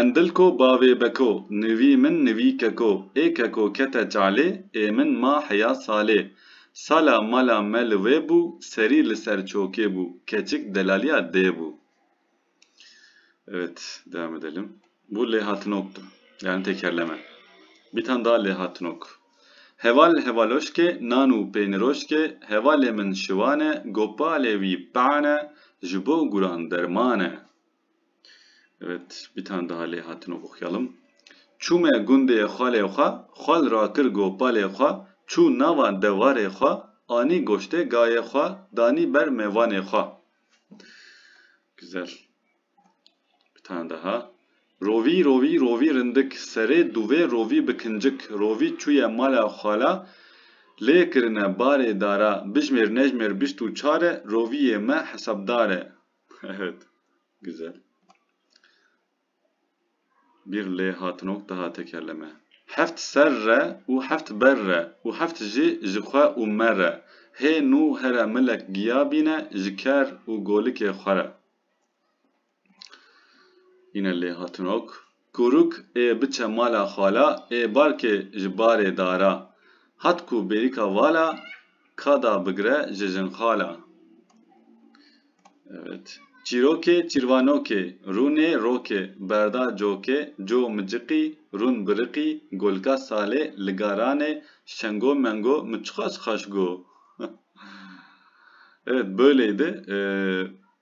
Endilko bavê beko, nivî min nivî keko, ê keko kete çalê, ê min ma heya salê. Sala mala me li wê bû, serî li ser çokê bû, keçik delaliya dê bû. Evet, devam edelim. Bu lêhatinoktu. Yani tekerleme. Bir tane daha lêhatinok. Heval hevaloşke, nanu peyniroşke, hevalê min şivane, gopalê wî pane, ji bo guran dermane. Evet, bir tane daha lê hatino oxuyalım. Çûme gundê xalê xwe, xal rakir gopalê xwe, çû nava dewarê xwe, anî goştê gayê xwe, danî ber mêvanê xwe. Güzel. Bir tane daha. Rovî, rovî, rovî rindik, serê dûvê rovî bi kincik, rovî çûye mala xala, lê kirine barê dara, bijmêr nejmêr bîst û çar e, rovîyê me hesabdar e. Evet. Güzel. Bir lê hatinok daha tekerleme. Heft ser re û heft ber re û heft jî ji xwe û me re. Hê nû here milek giya bîne ji ker û golikê xwe re. Yine lê hatinok. Kuruk ê biçe mala xala ê balkê ji barê dara. Hat ku bêrîka vala ka da bigre ji jinxala. Evet. Çîrokê çîrvanokê, rûnê rokê, berda cokê, co miciqî, rûn biriqî, golka salê, liga ranê, şengo mengo mi çiqas xweş go. Evet böyleydi.